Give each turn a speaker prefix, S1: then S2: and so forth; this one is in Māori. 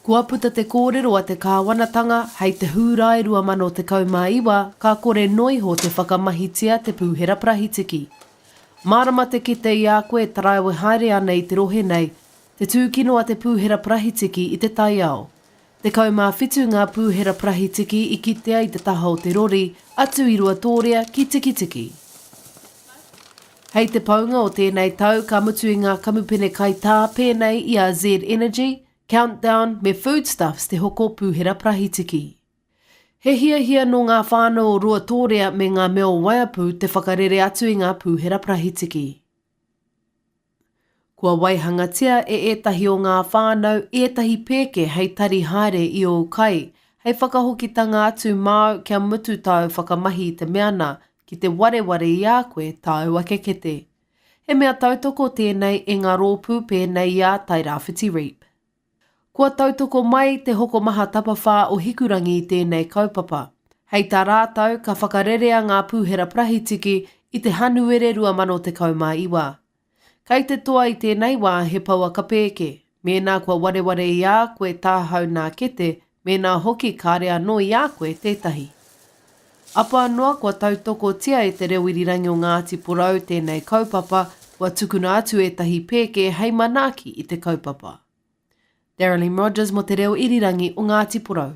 S1: Kua puta te kōrero a te Kāwanatanga hei te Hūrae 2019 ka kore noa iho te whakamahitia te Pūhera Parahitiki. Mārama te kite i a koe e taraiwe haere ana i te rohe nei te tūkino a te Pūhera Parahitiki i te taiao. Tekau mā whitu ngā pūhera parahitiki i kitea i te taha o te rori, atu i Ruatōrea ki Tikitiki. Hei te paunga o tēnei tau ka mutu i ngā kamupene kaitā pēnei i a Z Energy, Countdown me Foodstuffs te hoko pūhera parahitiki. He hiahia nō ngā whānau o Ruatōrea me ngā mea o Waiapu te whakarere atu i ngā pūhera parahitiki. Kua waihangatia e ētahi o ngā whānau ētahi pēke hei tari haere i ōu kai, hei whakahokitanga atu māu kia mutu tāu whakamahi i te mea nā, ki te wareware i a koe tāu ake kete. He mea tautoko tēnei e ngā rōpū pēnei i a Tairāwhiti Reap. Kua tautoko mai te hokomaha tapawhā o Hikurangi i tēnei kaupapa. Hei tā rātau, ka whakarerea ngā pūhera parahitiki i te Hanuere 2019. Kai te toa i tēnei wā he pouaka pēke, mēnā kua wareware i a koe tāhau nā kete Mēnā hoki kāre anō i a koe tētahi. Apa noa kua tautokotia e Te Reo Irirangi o Ngāti Porou tēnei kaupapa, kua tukuna atu ētahi pēke hei manaaki i te kaupapa. Darylene Rogers mō Te Reo Irirangi o Ngāti Porou.